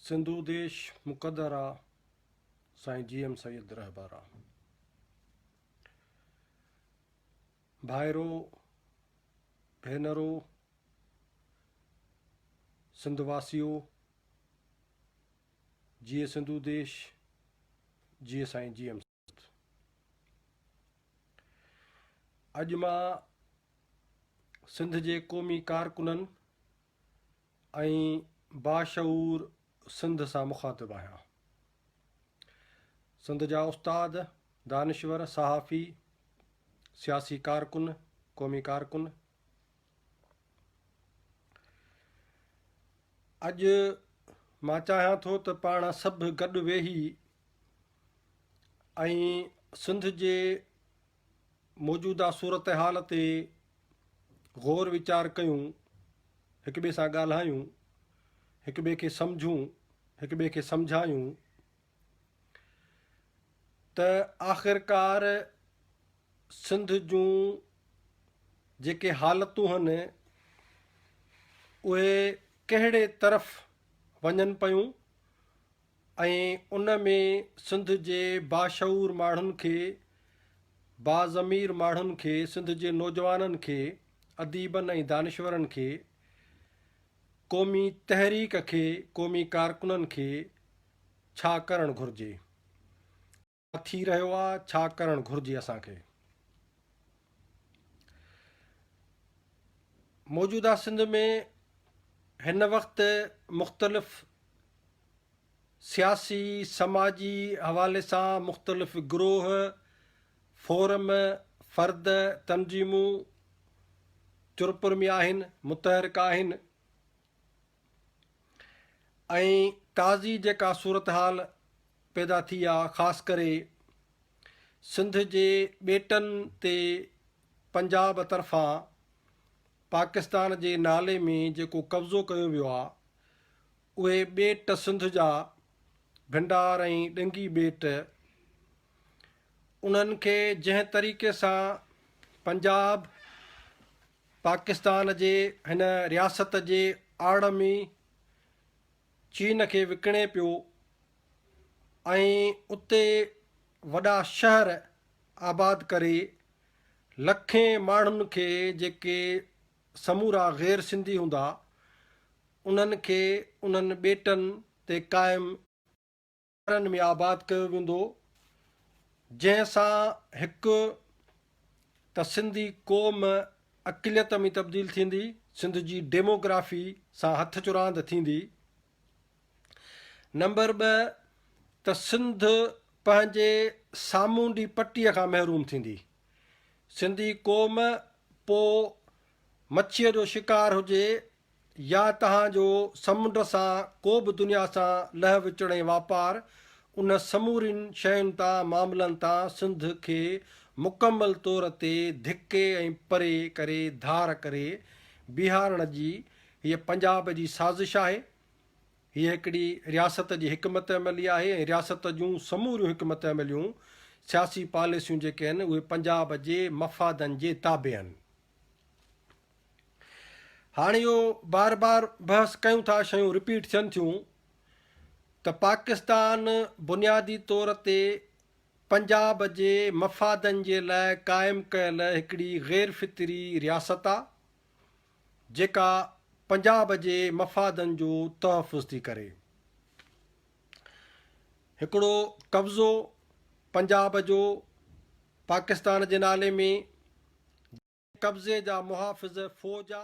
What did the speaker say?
سنڌو ديش مقدر آ سائين جي ايم سيد رهبر آ ڀائرو ڀينرو سنڌ واسيو جيئي سنڌو ديش جيئي سائين جي ايم اڄ مان سنڌ جي قومي ڪارڪنن ۽ باشعور سنڌ سان مخاطب آهيان. سنڌ جا استاد، دانشور، صحافي، سياسي ڪارڪن، قومي ڪارڪن اڄ مان چاهيان ٿو ته پاڻ سڀ گڏ ويهي ۽ سنڌ جي موجوده صورتحال تي غور ويچار ڪيون، هڪ ٻئي سان ڳالهايون، هڪ ٻئي کي سمجهون، هڪ ٻئي کي سمجهايون ته آخرڪار سنڌ جون جيڪي حالتون هن اهي ڪهڙي طرف وڃن پيون ۽ ان ۾ سنڌ جي باشعور ماڻهن کي، باضمير ماڻهن کي، سنڌ جي نوجوانن کي، اديبن ۽ دانشورن کي، قومي تحريڪ کي، قومي ڪارڪنن کي ڇا ڪرڻ گهرجي؟ ڇا ٿي رهيو آ ڇا ڪرڻ گهرجي اسان کي. موجوده سنڌ ۾ هن وقت مختلف سياسي سماجي حوالي سان مختلف گروه فورم فرد تنظيمون چرپر ۾ آهن متحرڪ آهن. ۽ تازي جيڪا صورتحال پيدا ٿي آ خاص ڪري سنڌ جي ٻيٽن تي پنجاب طرفان پاڪستان جي نالي ۾ جيڪو قبضو ڪيو ويو آ اهي ٻيٽ سنڌ جا ڀنڊار ۽ ڏنگي ٻيٽ انهن کي جنهن طريقي سان پنجاب پاڪستان جي هن رياست جي آڙ ۾ چين کي وڪڻي پيو ۽ اتي وڏا شهر آباد ڪري لکين ماڻهن کي جيڪي سمورا غير سنڌي هوندا انهن کي انهن ٻيٽن تي قائم شهرن ۾ آباد ڪيو ويندو جنهن سان هڪ ته سنڌي قوم اقليت ۾ تبديل ٿيندي سنڌ جي ڊيموگرافي سان هٿ چراند ٿيندي نمبر ٻه ته سنڌ پنهنجي سامونڊي پٽي کان محروم ٿيندي سنڌي قوم پو مڇيء جو شڪار هجي يا توهان جو سمنڊ سان ڪو به دنيا سان لهه وچڙ ۽ واپار، ان سمورين شين تان، معاملن تان، سنڌ کي مڪمل طور تي ڌڪي ۽ پري ڪري ڌار ڪري بيهارڻ جي هيء پنجاب جي سازش آهي. هيء هڪڙي رياست جي حڪمت عملي آهي ۽ رياست جون سموريون حڪمت عمليون، سياسي پاليسيون جيڪي آهن، اهي پنجاب جي مفادن جي تابع آهن. هاڻ اهو بار بار بحث ڪيون ٿا شيون رپيٽ ٿين ٿيون ته پاڪستان بنيادي طور تي پنجاب جي مفادن جي لاء قائم ڪيل هڪڙي غير فطري رياست آ جيڪا پنجاب جي مفادن جو تحفظ ٿي ڪري. هڪڙو قبضو پنجاب جو پاڪستان جي نالي ۾ جنهن قبضي جا محافظ فوج جا.